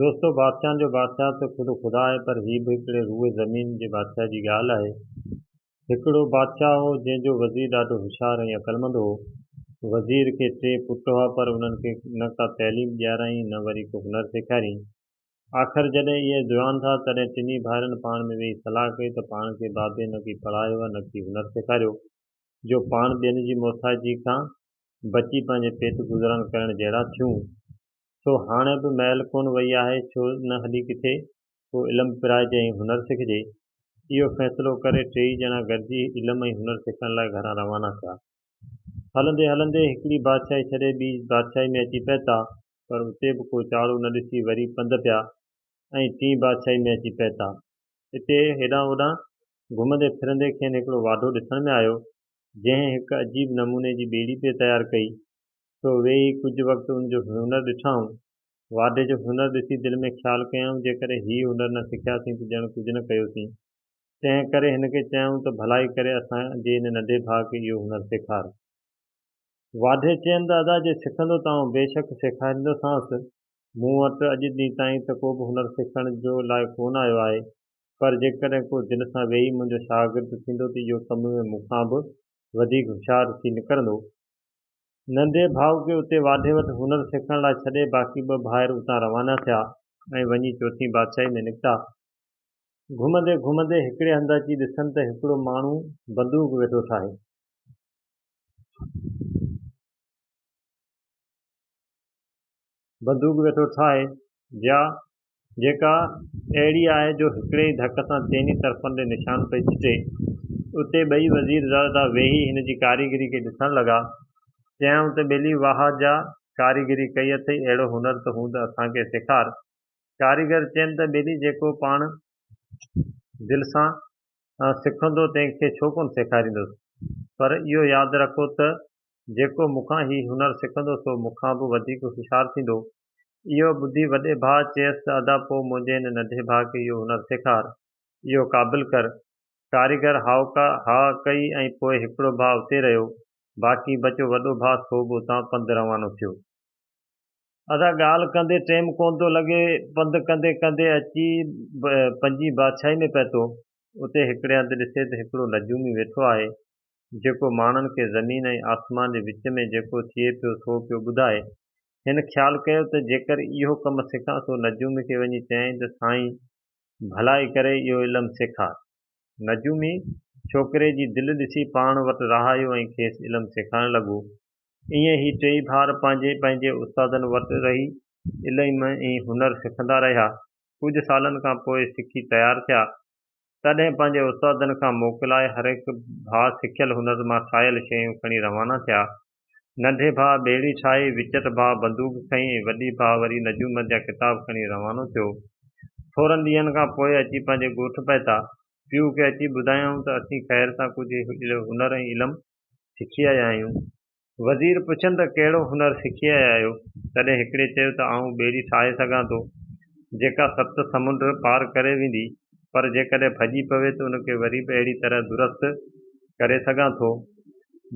دوستو بادشاهن جو بادشاهه ته خود خدا آهي پر هي به هڪڙي روئي زمين جي بادشاهه جي ڳالهه آهي. هڪڙو بادشاهه هو جنهن جو وزير ڏاڍو هوشيار ۽ عقلمند هو. وزير کي ٽي پٽ هئا پر انهن کي نه ڪا تعليم ڏيارائين نه وري ڪو هنر سيکاريائين. آخر جڏهن اهي جوان ٿا تڏهن ٽنهي ڀائرن پاڻ ۾ ويهي صلاح ڪئي ته پاڻ کي بابي نه ڪي پڙهايو ۽ نه ڪي هنر سيکاريو جو پاڻ ٻين جي محتاجي کان بچي پنهنجي پيٽ گذران ڪرڻ جهڙا ٿيون. سو هاڻ به مئل ڪونه وئي آهي ڇو نه هلي ڪٿي ڪو علم پرائجي ۽ هنر سکجي. اهو فيصلو ڪري ٽيئي ڄڻا گڏجي علم ۽ هنر سکڻ لاء گهران روانا ٿيا. هلندي هلندي هڪڙي بادشاهي ڇڏي ٻي بادشاهي ۾ اچي پهتا پر اتي به ڪو چاڙهو نه ڏسي وري پنڌ پيا ۽ ٽين بادشاهي ۾ اچي پهتا. اتي هيڏانهن هوڏانهن گهمندي ڦرندي کين هڪڙو واڍو ڏسڻ ۾ آيو جنهن هڪ عجيب نموني جي ٻيڙي پئي تيار ڪئي سو ويهي ڪجهه وقت ان جو هنر ڏٺائون. واڍي جو هنر ڏسي دل ۾ خيال ڪيائون جيڪڏهن هي هنر نه سکياسين ته ڄڻ ڪجهه نه ڪيوسين. تنهن ڪري هن کي چيائون ته ڀلائي ڪري اسان جي ان ننڍي ڀاء کي اهو هنر سيکار. واڍي چين ته ادا جي سکندو ته آئون بيشڪ سيکاريندوسانس. مون وٽ اڄ ڏينهن تائين ته ڪو به هنر سکڻ جو لاء ڪونه آيو آهي. پر جيڪڏهن ڪو دل سان ويهي منهنجو شاگرد ٿيندو ته اهو ڪم ۾ مون کان به وڌيڪ هوشيار ٿي نڪرندو. ننڍي ڀاء کي اتي واڍي وٽ هنر سکڻ لاء ڇڏي باقي ٻه ڀائر اتان روانا ٿيا ۽ وڃي چوٿين بادشاهي ۾ نڪتا. گهمندي گهمندي هڪڙي هنڌ اچي ڏسن ته هڪڙو ماڻهو بندوق ويٺو ٺاهي. بندوق ويٺو ٺاهي جيا جيڪا اهڙي آهي جو هڪڙي ئي ڌڪ سان چئني طرفن ڏي نشان پئي ڇٽي. اتي ٻئي وزير زيادهه ويهي هن جي ڪاريگري کي ڏسڻ لڳا. چيائون ته ٻيلي واهه جا ڪاريگري ڪئي اٿئي اهڙو هنر ته هوند اسان کي سيکار. ڪاريگر چين ته ٻيلي جيڪو پاڻ دل سان سکندو تنهن کي ڇو ڪونه سيکاريندس. پر اهو ياد رکو ته جيڪو مون کان هي هنر سکندو سو مون کان به وڌيڪ هوشيار ٿيندو. اهو ٻڌي وڏي ڀاء چيس ته ادا پوء منهنجي هن ننڍي ڀاء کي اهو هنر سيکار، اهو قابل ڪر. ڪاريگر هائوڪا ها ڪئي ۽ پوء هڪڙو ڀاء اتي رهيو، باقي بچو وڏو ڀاء سو به اتان پنڌ روانو ٿيو. ادا ڳالهه ڪندي ٽيم ڪونه ٿو لڳي، پنڌ ڪندي ڪندي اچي پنهنجي بادشاهي ۾ پهتو. اتي هڪڙي هنڌ ڏسي ته هڪڙو نجومي ويٺو آهي، جيڪو ماڻهن کي زمين ۽ آسمان جي وچ ۾ جيڪو ٿئي پيو سو پيو ٻڌائي. هن خيال ڪيو ته جيڪر اهو ڪم سکان سو نجومي کي وڃي چيائين ته سائين ڀلائي ڪري اهو علم سيکار. نجومي ڇوڪري جي دل ڏسي پاڻ وٽ رهايو ۽ کيس علم سيکارڻ لڳو. ائين هي ٽيئي ڀائر پنهنجي پنهنجي استادن وٽ رهي علم ۽ هنر سکندا رهيا. ڪجهه سالن کان پوء سکي تيار ٿيا. تڏهن پنهنجي استادن کان موڪلائي هرهڪ ڀاء سکيل هنر مان ٺاهيل شيون کڻي روانا ٿيا. ننڍي ڀاء ٻيڙي ڇائي، وچٽ ڀاء بندوق کنئي ۽ وڏي ڀاء وري نجومن جا ڪتاب کڻي روانو ٿيو. ٿورن ڏينهن کان پوء اچي پنهنجي ڳوٺ پهتا. پيء کي اچي ٻڌايائون ته اسين خير سان ڪجهه هنر ۽ علم سکي آيا آهيون. وزير پڇين ته ڪهڙو هنر سکي آيا آهيو؟ تڏهن هڪڙي چيو ته آئون ٻيڙي ٺاهي سگهان ٿو، جيڪا ست سمنڊ پار ڪري ويندي، پر جيڪڏهن ڀڄي پوي ته ان کي وري به اهڙي طرح درست ڪري سگهان ٿو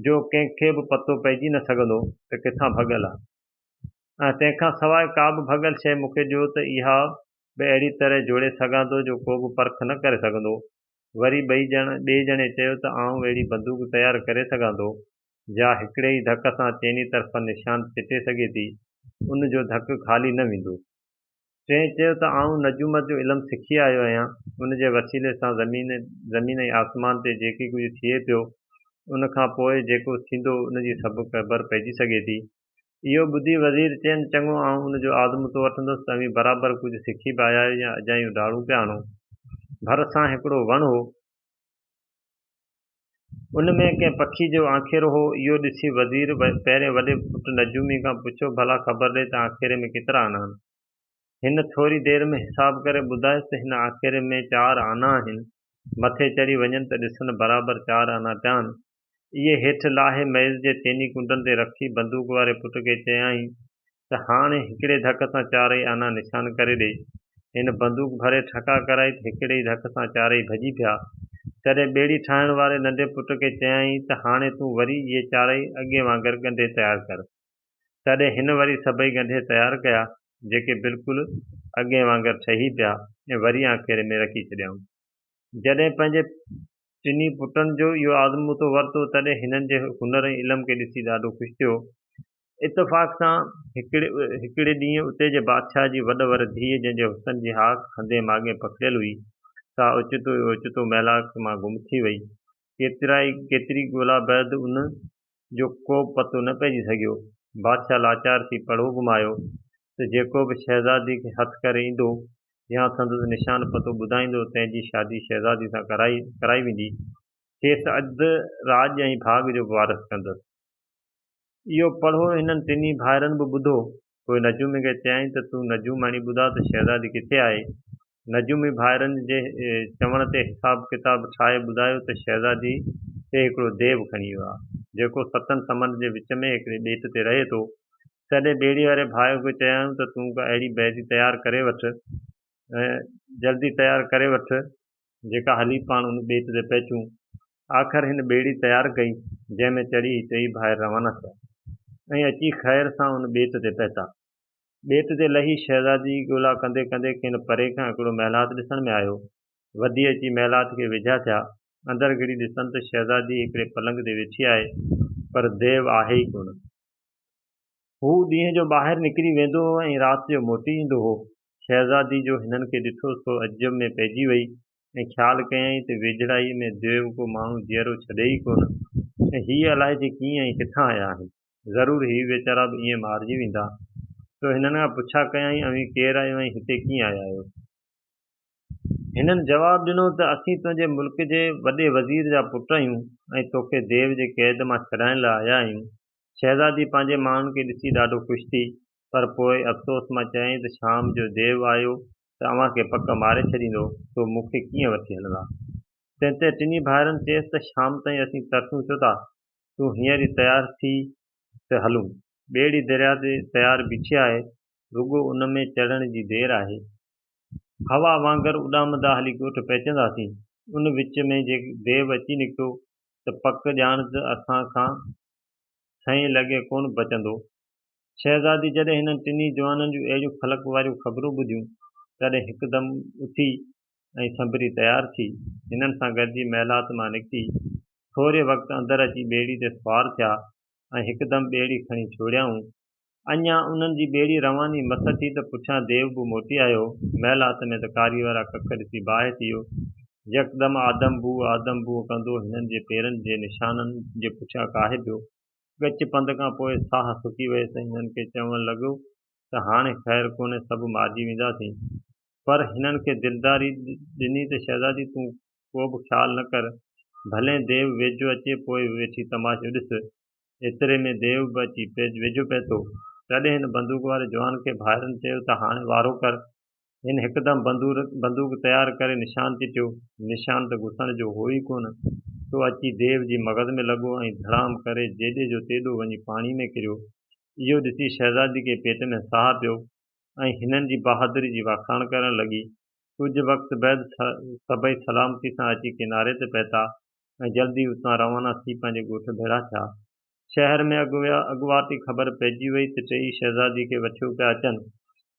جو ڪنهن کي به پتو پئجي نه سگهندو ته ڪٿان ڀڳل آ ۽ تنهن کان سواء ڪا به ڀڳل شيء مون کي ڏيو ته اها به اهڙي طرح جوڙي سگهان ٿو جو ڪو به پرک نه ڪري سگهندو. وري ٻئي ڄڻ ٻئي ڄڻي چيو ته آئون اهڙي بندوق تيار ڪري سگهان ٿو جا هڪڙي ئي ڌڪ سان چئني طرفن نشان چٽي سگهي ٿي. ان جو ڌڪ خالي نه ويندو. چيئي چيو ته آئون نجومت جو علم سکي آيو آهيان، ان جي وسيلي سان زمين زمين ۽ آسمان تي جيڪي ڪجهه ٿئي پيو، ان کان پوء جيڪو ٿيندو ان جي سڀ خبر پئجي سگهي ٿي. اهو ٻڌي وزير چين چڱو آئون ان جو آزمون ٿو وٺندس ته اوهين برابر ڪجهه سکي به آيا آهيو يا اجايون ڊاڙون پيا هڻو. ڀر سان هڪڙو وڻ هو. ان ۾ ڪنهن پکي جو آنکيرو هو. اهو ڏسي وزير پهرين وڏي پٽ نجومي کان پڇيو، ڀلا خبر ڏي ته آنکيري ۾ ڪيترا آنا آهن؟ هن ٿوري دير ۾ حساب ڪري ٻڌايس ته هن آنکيري ۾ چار آنا آهن. مٿي چڙهي وڃن ته ڏسن برابر چار آنا پيا آهن. اهي هيٺ لاهي ميز جي تيني ڪنڊن تي رکي بندوق واري پٽ کي چيائين ته هاڻي هڪڙي ڌڪ سان چارئي آنا نشان ڪري ڏي. هن بندوق ڀري ٺڪا ڪرائي ته هڪڙي ئي ڌڪ سان چارئي ڀڄي پيا. تڏهن ٻيڙي ٺاهڻ واري ننڍي پٽ کي چيائين ته هاڻي تون وري اهي چارئي اڳي وانگر ڳنڍي تيار ڪر. تڏهن هن وري سڀئي ڳنڍي تيار ڪيا، جيڪي بلڪل اڳئين وانگر ٺهي پيا ۽ وري آکيري ۾ رکي ڇڏيائون. جڏهن پنهنجي ٽنهي پٽن جو اهو آزمودو ورتو، تڏهن هنن جي هنر ۽ علم کي ڏسي ڏاڍو خوش ٿيو. اتفاق سان هڪڙي ڏينهن اتي جي بادشاهه جي وڏ ور ڌيء جنهن جي حسن جي هاڪ هندي ماڳهين پکڙيل هئي، سا اوچتو ئي اوچتو ميلاڪ مان گم ٿي وئي. ڪيتري ڳولا بعد ان جو ڪوبه پتو نه پئجي سگهيو. بادشاهه لاچار ٿي پڙهو گهمايو ته جيڪو به شهزادي کي هٿ ڪري ايندو يا سندس نشان پتو ٻڌائيندو تنهن جي شادي شهزادي سان ڪرائي ويندي، کيس اڌ راڄ ۽ ڀاڳ جو به وارث ڪندس. اهو پڙهو هنن ٽنهي ڀائرن به ٻڌو. پوء نجومي کي چيائين ته تون نجوماڻي ٻڌاء ته شهزادي ڪٿي آهي؟ نجومي ڀائرن جي چوڻ تي حساب ڪتاب ٺاهي ٻڌايو ته شهزادي کي هڪڙو ديو کڻي ويو آهي، جيڪو ستن سمنڊ جي وچ ۾ هڪڙي ٻيٽ تي رهي ٿو. تڏهن ٻيڙي واري ڀاء کي چيائون ته تون ڪا اهڙي بيدي تيار ڪري وٺ، جلدي تيار ڪري وٺ، جيڪا هلي پاڻ ان ٻيٽ تي پهچون. آخر هن ٻيڙي تيار ڪئي، جنهن ۾ چڙهي هي ٽيئي ڀائر روانا ٿيا ۽ اچي خير سان ان ٻيٽ تي پهتا. ٻيٽ تي لهي شهزادي جي ڳولا ڪندي ڪندي کين پري کان هڪڙو محلات ڏسڻ ۾ آيو. وڌي اچي محلات کي ويجها ٿيا. اندر گهڙي ڏسن ته شهزادي هڪڙي پلنگ تي ويٺي آهي، پر ديو آهي ئي ڪونه. هو ڏينهن جو ٻاهر نڪري ويندو هو ۽ رات جو موٽي ايندو هو. شهزادي جو هنن کي ڏٺو سو عجب ۾ پئجي وئي ۽ خيال ڪيائين ته ويجهڙائيء ۾ ديو ڪو ماڻهو جيئرو ڇڏي ئي ڪونه ۽ هي الائي جي ڪيئن ۽ ڪٿان آيا آهن؟ ضرور هي ويچارا به ائين مارجي ويندا. سو هنن کان پڇا ڪيائين، اوهين ڪير آهيو ۽ هتي ڪيئن آيا آهيو؟ هنن جواب ڏنو ته اسين تنهنجي ملڪ جي وڏي وزير جا پٽ آهيون ۽ توکي ديو جي قيد مان ڇڏائڻ لاء آيا آهيون. شهزادي پنهنجي ماڻهن کي ڏسي ڏاڍو خوش ٿي پر پوء افسوس مان چيائين ته شام جو ديو آيو ته اوهان کي پڪ ماري ڇڏيندو، سو مون کي ڪيئن وٺي هلندا؟ تنهن تي ٽنهي ڀائرن چيس ته شام تائين اسين ترسون ڇو ٿا، تون هينئر ئي تيار ٿي ته هلون. ٻيڙي درياء تي تيار بيٺي آهي، رڳو ان ۾ چڙهڻ جي دير آهي. هوا وانگر اڏامندا هلي ڳوٺ پهچنداسين. ان وچ ۾ جي ديو اچي نڪتو ته پڪ ڄاڻ ته اسان کان ڇهين لڳي ڪونه بچندو. شهزادي جڏهن هنن ٽنهي جوانن جون اهڙيون فلڪ واريون خبرون ٻڌيون، تڏهن هڪدم اٿي ۽ سنڀري تيار ٿي، هنن سان گڏجي محلات مان نڪتي، ٿوري وقت اندر اچي ٻيڙي تي سوار ٿيا ۽ هڪدم ٻيڙي کڻي ڇوڙيائون. اڃا انهن جي ٻيڙي رواني مس ٿي ته پٺيان ديو به موٽي آيو. محلات ۾ ته ڪاري وارا ڪک ڏسي باهه ٿي ويو. يڪدم آدم بوء آدم بوء ڪندو هنن جي پيرن جي نشانن جي پٺيان ڪاهي پيو. ڳچ پنڌ کان پوء ساهه سڪي ويس ۽ هنن کي چوڻ لڳو ته هاڻي خير ڪونهي سڀ مارجي وينداسين. پر هنن کي دلداري ڏني ته شهزادي تون ڪو به خيال نه ڪر. ڀلين ديو ويجهو اچي پوء ويٺي تماشو ڏس. ايتري ۾ ديو به اچي ويجهو پهتو. تڏهن هن بندوق واري جوان کي ڀائرن چيو ته هاڻي وارو ڪر. هن هڪدم بندوق تيار ڪري نشان چٽيو. نشان ته گسڻ جو هو ئي ڪونه، سو اچي ديو جي مغز ۾ لڳو ۽ ڌڙام ڪري جيڏي جو تيڏو وڃي پاڻي ۾ ڪريو. اهو ڏسي شهزادي کي پيٽ ۾ ساهه پيو ۽ هنن جي بهادري جي واکاڻ ڪرڻ لڳي. ڪجهه وقت بعد سڀئي سلامتي سان اچي ڪناري تي پهتا ۽ جلدي اتان روانا ٿي پنهنجي ڳوٺ ڀيڙا ٿيا. شهر ۾ اڳواٽي خبر پئجي وئي ته ٽيئي شهزادي کي وٺيو پيا اچن.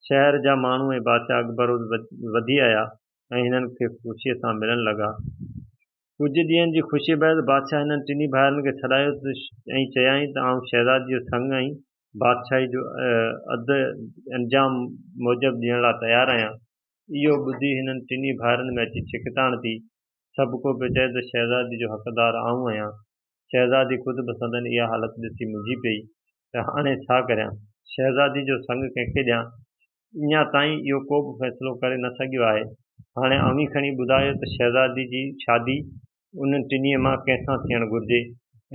شهر جا ماڻهو ۽ بادشاهه اڳڀروز وڌي آيا ۽ هنن کي خوشيء سان ملڻ لڳا. ڪجهه ڏينهن جي خوشيء بعد بادشاهه هنن ٽنهي ڀائرن کي سڏايو ۽ چيائين ته آئون شهزادي جو سڱ ۽ بادشاهي جو عھد انجام موجب ڏيڻ لاء تيار آهيان. اهو ٻڌي هنن ٽنهي ڀائرن ۾ اچي ڇڪتاڻ ٿي. سڀڪو پيو چئي ته شهزادي جو حقدار آئون آهيان. شهزادي خود به سندن اها حالت ڏسي منجهي پئي ته هاڻي ڇا ڪريان؟ شهزادي جو سڱ ڪنهن کي ڏيان؟ اڃا تائين اهو ڪو به فيصلو ڪري نه سگهيو آهي. هاڻي اوهين کڻي ٻڌايو ته شهزادي جي شادي انهن ٽنهي مان ڪنهن سان ٿيڻ گهرجي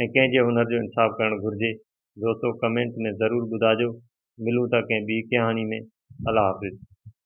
۽ ڪنهن جي هنر جو انصاف ڪرڻ گهرجي؟ دوستو ڪمينٽ ۾ ضرور ٻڌاجو. ملون ٿا ڪنهن ٻي ڪهاڻي ۾. الله حافظ.